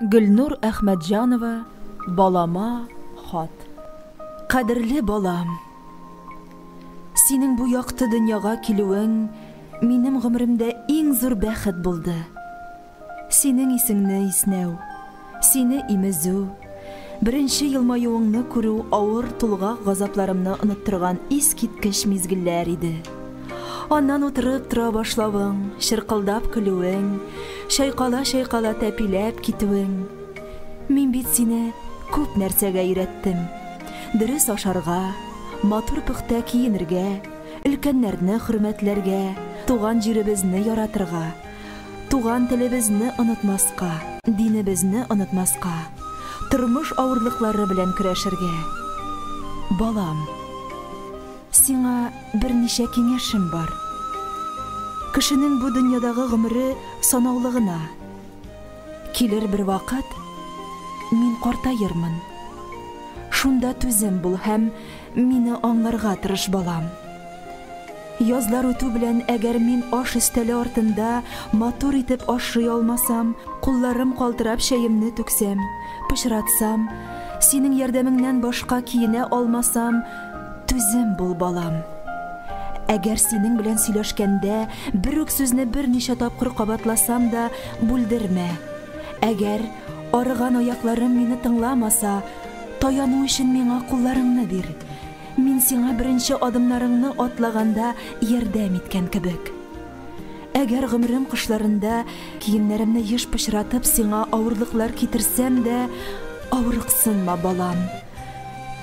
Гөлнур Әхмәтҗанова Балама хат. Кадерле балам! Синең бу якты дөньяга килүең минем гомеремдә иң зур бәхет булды. Синең исеңне иснәү, сине имезү, Беренче елмаюыңны күрү авыр тулгак газапларымны оныттырган искиткеч мизгелләр иде. Аннан утырып тора башлавың, чыркылдап көлүең, чайкала-чайкала тәпиләп китүең. Мин бит сине күп нәрсәгә өйрәттем. Дөрес ашарга, матур пөхтә киенергә, өлкәннәрне хөрмәтләргә, туган җиребезне яратырга. Туган телебезне онытмаска, динебезне онытмаска, тормыш авырлыклары белән көрәшергә. Балам, сиңа берничә киңәшем бар. Кешенең бу дөньядагы гомере санаулы гына. Килер бер вакыт, мин картаермын. Шунда түзем бул һәм мине аңларга тырыш, балам. Язлар үтү белән, әгәр мин аш өстәле артында матур итеп ашрый алмасам, кулларым калтырап чәемне түксәм, пычратсам, синең ярдәмеңнән башка киенә алмасам, түзем бул, балам. Әгәр синең белән сөйләшкәндә бер үк сүзне берничә тапкыр кабатласам да, бүлдермә. Әгәр арыган аякларым мине тыңламаса, таяну өчен миңа кулларыңны бир. Мин сиңа беренче адымнарыңны атлаганда ярдәм иткән кебек. Әгәр гомерем кышларында киемнәремне еш пычратып сиңа авырлыклар китерсәм дә, авырыксынма, балам.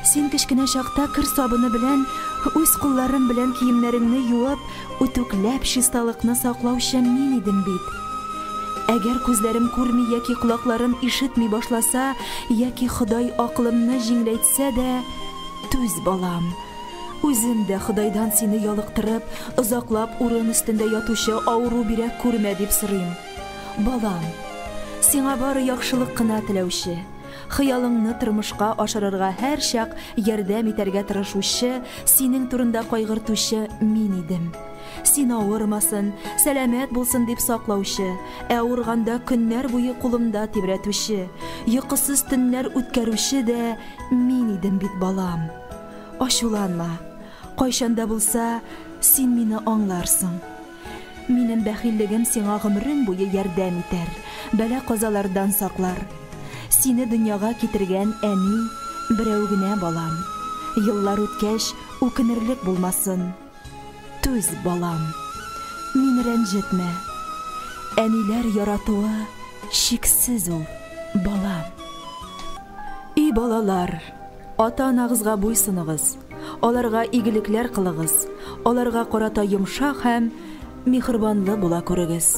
Син кечкенә чакта кер сабыны белән үз кулларым белән киемнәреңне юып, үтүкләп чисталыкны саклаучы мин идем бит. Әгәр күзләрем күрми яки колакларым ишетми башласа, яки Ходай акылымны җиңеләйтсә, Сә дә түз, балам. Үзем дә Ходайдан сине ялыктырып, озаклап урын өстендә ятучы авыру бирәк күрмә, дип сорыйм. Балам, сиңа бары яхшылык кына теләүче, хыялыңны тормышка ашырырга һәрчак ярдәм итәргә тырышучы, синең турында кайгыртучы мин идем. Син авырмасын, сәламәт булсын дип саклаучы, ә авырганда көннәр буе кулымда тибрәтүче, йокысыз төннәр үткәрүче дә мин идем бит, балам. Ачуланма. Кайчан да булса, син мине аңларсың. Минем бәхиллегем сиңа гомерең буе ярдәм итәр, бәла-казалардан саклар. Сине дөньяга китергән әни берәү генә, балам. Еллар үткәч, үкенерлек булмасын. Түз, балам, мине рәнҗетмә. Әниләр яратуы чиксез ул, балам. И балалар, ата-анагызга буйсыныгыз, аларга игелекләр кылыгыз, аларга карата йомшак һәм михрбанлы була күрегез.